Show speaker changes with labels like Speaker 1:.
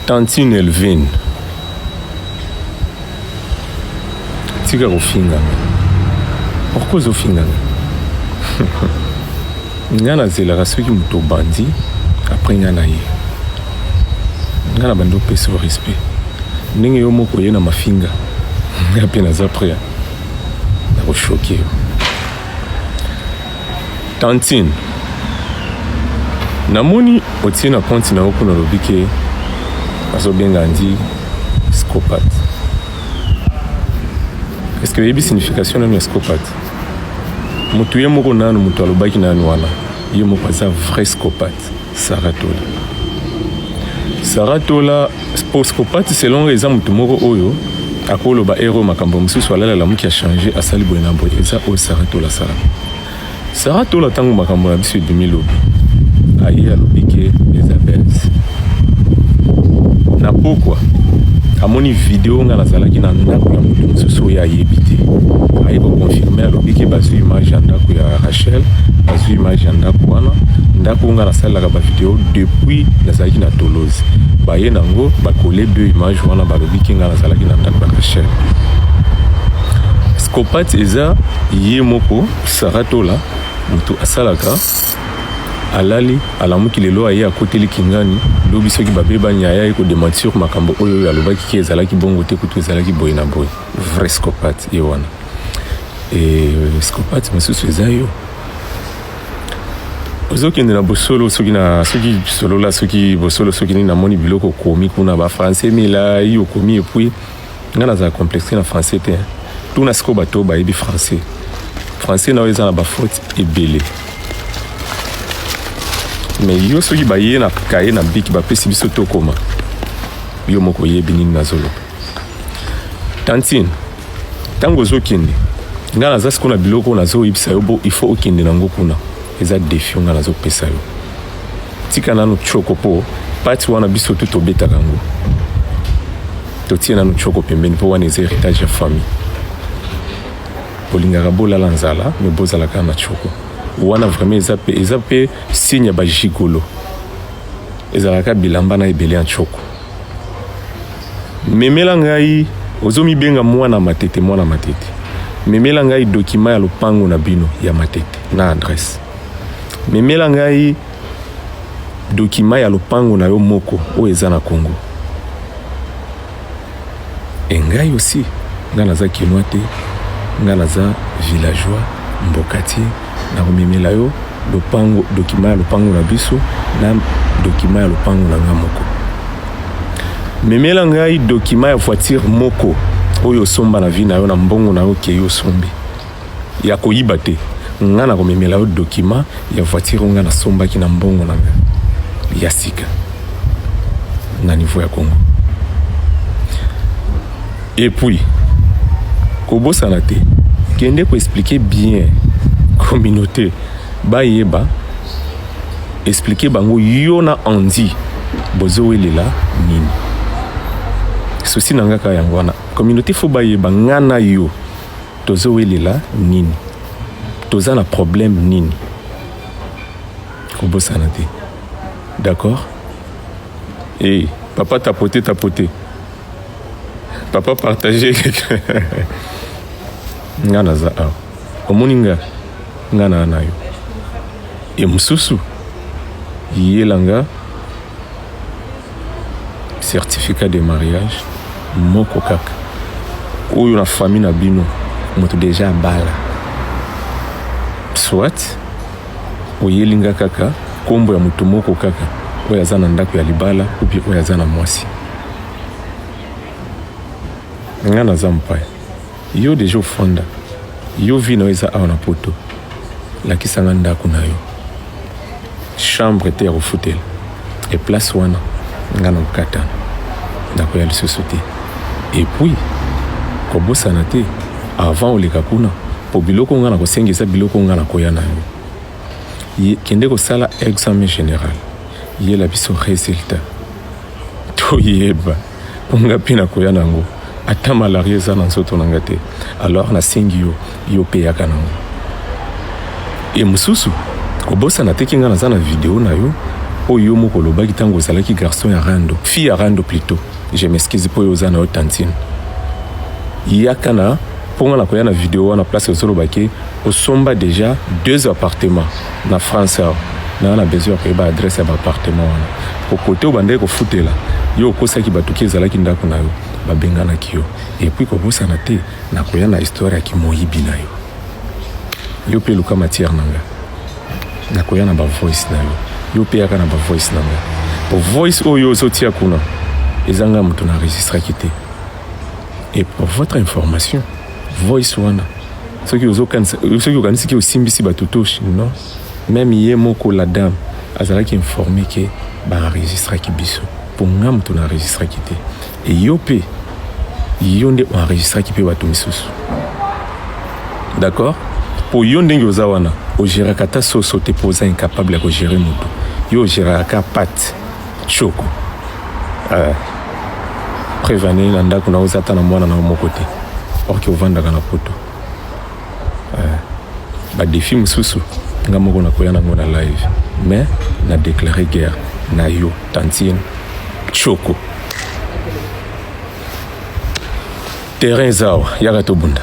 Speaker 1: Tantine Elvine, tika kofingana. Pourquoi ozofingana? nga nazelaka soki moto obandi apres nga na ye nga na bandi opesa o respect ndenge yo moko oye na mafinga nga mpe naza prea na koshoke yo Tantine, namoni otie na compte na yo kuna olobi ke azobenga ndi psychopathe. Est-ce que oyebi signification nanu ya psychopathe? Mutu ye moko nanu mutu alobaki nanu wana ye moko aza vrai psychopathe. Saratola Saratola Sposkopati selon eza moto moko oyo akoloba ero makambo mosusu alalala moki ya change asali boye na boye eza oyo Saratola sala Saratola ntango makambo na biso ebimi lobi aye alobi ke eza bese na pokwa amoni video ngai nazalaki na ndako ya moto mosusu oyo ayebi te aye koconfirme alobiki bazwi image ya ndako ya rachel bazwi image ya ndako wana mpo ngai nasalelaka bavideo depuis nazalaki na tolozi baye nango bakole bio image wana balobi ke ngai nazalaki na ndako ya kasher scopate eza ye moko saratola moto asalaka alali alamuki lelo aye akoteli kingani lobi soki babebani aya ye kodementir makambo oyo oyo alobaki ke ezalaki bongo te kutu ezalaki boye na boye vrai scopate ye wana e scopate mosusu eza yo ozokende na bosolo soki na soki solola soki bosolo soki nini namoni biloko okomi kuna ba français milai okomi epuis ngai nazala complexe na français te tuna sikoyo bato bayebi français français na yo eza na bafaute ebele me yo soki baye na kaye na biki bapesi biso tokoma yo moko oyebi nini nazoloba tantine ntango ozokende ngai naza sikoyo na biloko nazoyebisa yo bo il faut okende nango kuna eza defi ngai nazopesa yo tika nanu choko mpo pati wana biso tu tobetaka yango totie nanu choko pembeni mpo wana eza héritage ya famille bolingaka bolala nzala me bozalaka na choko wana vraiment eza mpe eza mpe signe ya bajigolo ezalaka bilamba na ebele ya choko Memela ngai ozo mibenga mwana matete mwana matete. Memela ngai document ya lopango na bino ya matete na adresse. Memela ngai document ya lopango na yo moko oyo eza na Congo. Et ngai aussi nga naza kinois te nga naza villageois mbokatier Nakomemela yo lopango, document ya lopango na biso na document ya lopango na nga moko. Memela ngai document ya voiture moko oyo osomba na vie na yo na mbongo na yo okei osombi ya koyiba te. Nga nakomemela yo document ya voiture oyo nga nasombaki na mbongo na nga ya sika na niveau ya Congo. Et puis, kobosana te, kende ko expliquer bien communauté bayeba expliquer bango yo na Andy bozowelela nini. Souci na nga kaka yango wana. Communauté faut bayeba nga na yo tozowelela nini. Toza na problème nini. Kobosana te. D'accord? Eh, papa tapoter tapoter. papa partage nga naza awa omoni nga nga naa na yo ye mosusu yela nga certificat de mariage moko kaka oyo na famille na bino moto deja abala soit oyeli nga kaka nkombo ya moto moko kaka oyo aza na ndako ya libala oyo aza na mwasi nga naza mopaya yo deja ofanda yo vi na yo eza awa na poto lakisa nga ndako na yo chambre te ya kofutela e place wana nga na kokatana nakoya lisusu te epuis kobosana te avant oleka kuna mpo biloko nga na kosenga eza biloko nga na koya na yango kende kosala examen général yela biso résultat toyeba mpo nga mpe nakoya nango ata malaria eza na nzoto na nga te alors nasengi yo yo mpe yaka nango e mosusu kobosana teki nga naza na video na yo oyo yo moko olobaki ntango ozalaki garçon ya rando fille ya rando plutôt je m'excuse mpo yo oza na yo tantine yaka na mpo nga nakoya na video wana place ozoloba ke osomba déjà deux appartement Na France awa naza na besoin ya koyeba adresse ya ba appartement wana po kote oyo bandaki kofutela yo okosaki bato ki ezalaki ndako na yo babenganaki yo epuis kobosana te nakoya na histoire ya kimoyibi na yo yo pe luka matière na nga nakoya na ba voice na yo yo pe yaka na ba voice na nga po voice oyo ozotia kuna eza nga moto na enregistraki te et pour votre information voice wana soki ozokanisa soki okanisi ke osimbisi bato to non meme ye moko la dame azalaki informe ke baenregistraki biso mpo nga moto na enregistraki te eyo mpe yo nde oenregistraki mpe bato misusu d'accord mpo yo ndenge oza wana ogeraka ata soso te mpo oza incapable ya kogere moto yo ogeraka kaka pate Choco. Euh, preuve année na ndako naoza ata na mwana na yo moko te or ke ovandaka na poto euh, badefi mosusu nga moko nakoya nango na live mais na déclare guerre na yo tantine choko terrain eza awa yaka tobunda